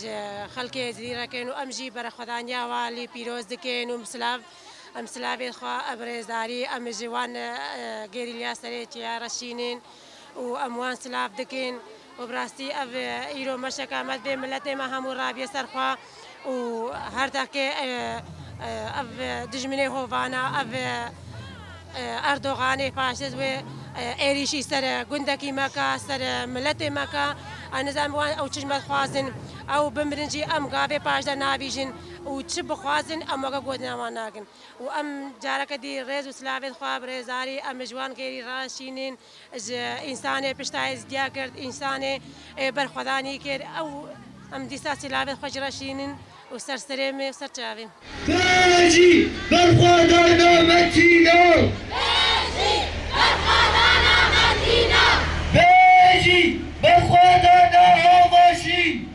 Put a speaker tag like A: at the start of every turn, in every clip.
A: Ji xelkê Êzidî re kiriye û em jî berexwedaniya wan li pîroz dikin û silav em silavên xwe a bi rêzdarî em ji wan gerîlya serêtiya re şînin û em wan silav dikin û bi rastî ev îro meşeka me divê miletê me hemû rabiye ser xwe û her deqê ev dijminê hovana ev Erdoganê faşîst wê êrîşî ser gundekî me ka, ser miletê me ka. Ez nizanîm wan ew çi ji me dixwazin. Ew bimirin jî em gavê paşda nabîjin û çi bixwazin em weke gotina wan nakin. Û em careke dî rêz û silavên xwe bi rêzdarî em li ji wan gêrî raşînin. Ji însanê pişta ez diya girt, însanê ber xwedanî kir. Ew em dîsa sîlavên xwe ji re şînin û ser serê me û ser çavên. Kejî berxwedana Metîna. Kejî berxwedana Metîna. Kejî berxwedana Avaşîn.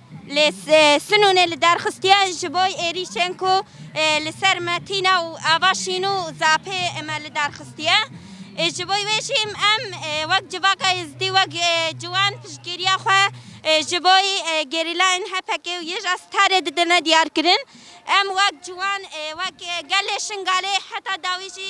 A: Lê Sinûnê li derxistiye ji bo êrîşên ku li ser me tîne û ava şîn û zapê me li derxistiye. Ji bo wê jî em wek Civaka Êzidî wek ciwan piştgiriya xwe ji bo gerîlayên HPK'ê û YJSTR'ê didine diyarkirin. Em wek ciwan, wek gelê Şingalê heta dawî jî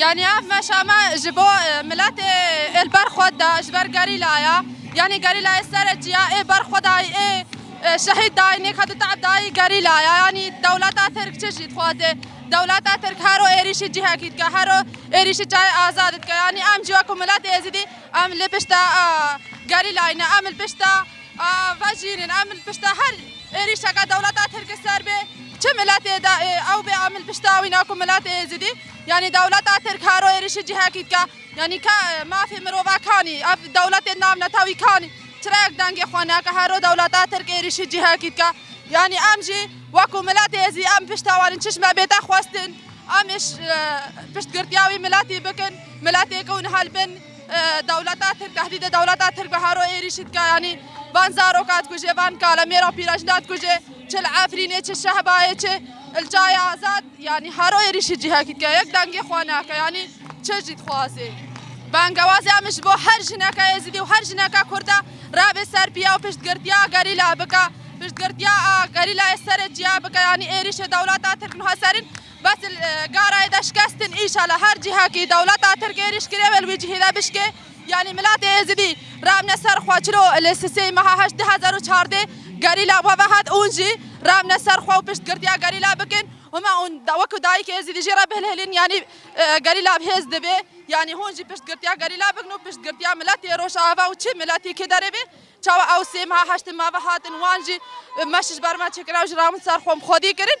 A: Yani ev meşa me ji bo e, miletê ê li ber xwe de ji ber gerîlaya yanî gerîlayê sereçiya ê ber xwe dayî ê e, şehîd dayî nêka di tab dayî gerîlaya yanî dewleta Tirk çi jî dixwaze dewleta Tirk hero êrîşî cihekî dike hero êrîşî çayê azad dike yanî em jî wekû miletê êzidî em li pişta gerîlayî ne em li pişta A vejînin em li pişta her êrîşeke dewleta tirk li ser bê çi miletê de ew bê em li pişta wî ne ku miletê êzidî yanî dewleta tirk haro êrîşî cihekî dike yanî ke mafê mirovekanî ev dewletên nav netewî kanî çirayek dengê xwe neke haro dewleta tirk êrîşî cihekî dike yanî em jî weku miletê êzidî em pişta wan in çişme bête xwestin em ê piştgirtiya wî miletî bikin miletê ku niha li bin Dewleta Tirk tehdîdê dewleta Tirk bi hero êrîşî dike yanî van zaroka dikuje, van kalemêra pîrajina dikuje, çi li Efrînê, çi Şehbayê, çi li Çayê Azad yanî hero êrîşî cihekî dike. Yek dengê xwe nake yanî çi jî dixwaze. Bangewazê em ji bo her jineke Êzidî û her jineke Kurd e revê ser piya û piştgirtiya gerîla bike, piştgirtiya a gerîlayê serê çiya bike yanî êrîşê dewleta Tirk niha serîn. Bes li garayê de şikestin îşala her cihekî dewleta tirk êrîş kirê wê li wî cihî de bişkê yanî miletê êzidî rabne ser xwe çilo li sisê meha heşt du hezar û çardê gerîla we vehat ûn jî rabne ser xwe û piştgirtiya gerîla bikin hûme ûn wekû dayîkê êzidî jî re bihilhilîn yanî gerîla bi hêz dibê yanî hûn jî piştgirtiya gerîla bikin û piştgirtiya miletê rojava û çi miletî ki derê bê çawa ew sê meha heştin me vehatin wan jî me şiş ber me çêkirina û ji rawin ser xwe xwedî kirin.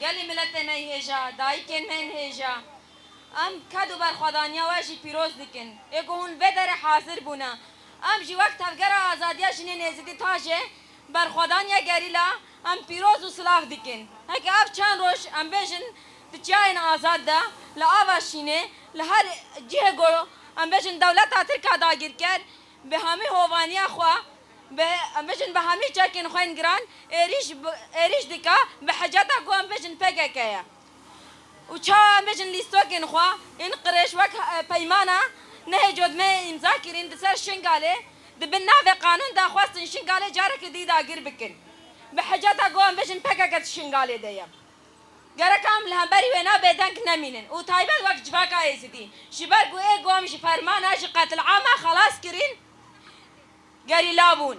A: Gelê miletê me hêja, dayikên me yên hêja. Em ked û berxwedaniya we jî pîroz dikin. Ê ku hûn vê derê hazir bûne, em jî wek Tevgera Azadiya Jinên Êzidî, TAJê, berxwedaniya gerîla, em pîroz û silav dikin. Heke ev çend roj em bêjin di çiyayên azad de, li ava şînê, li her cihê ku em bêjin dewleta tirk a dagirker, Bi hemî hovaniya xwe, bi em bijîn bi hemî çekên xwe yên giran êrîş êrîş dike bi hiceta ku em bijîn pkk ye û çawa em bijîn lîstokên xwe yên qirêj wek peymana nehê cotmeyê îmza kirîn di ser Şingalê di bin navê qanûn de xwestin Şingalê carekê dî dagir bikin bi hiceta ku em bijîn pkk di Şingalê de ye. Gerek em li hemberî wê ne bêdeng nemînin û taybet wek civaka Êzidî ji ber ku ê gom ji fermana ji qetilama xelas kirîn gerîla bûn.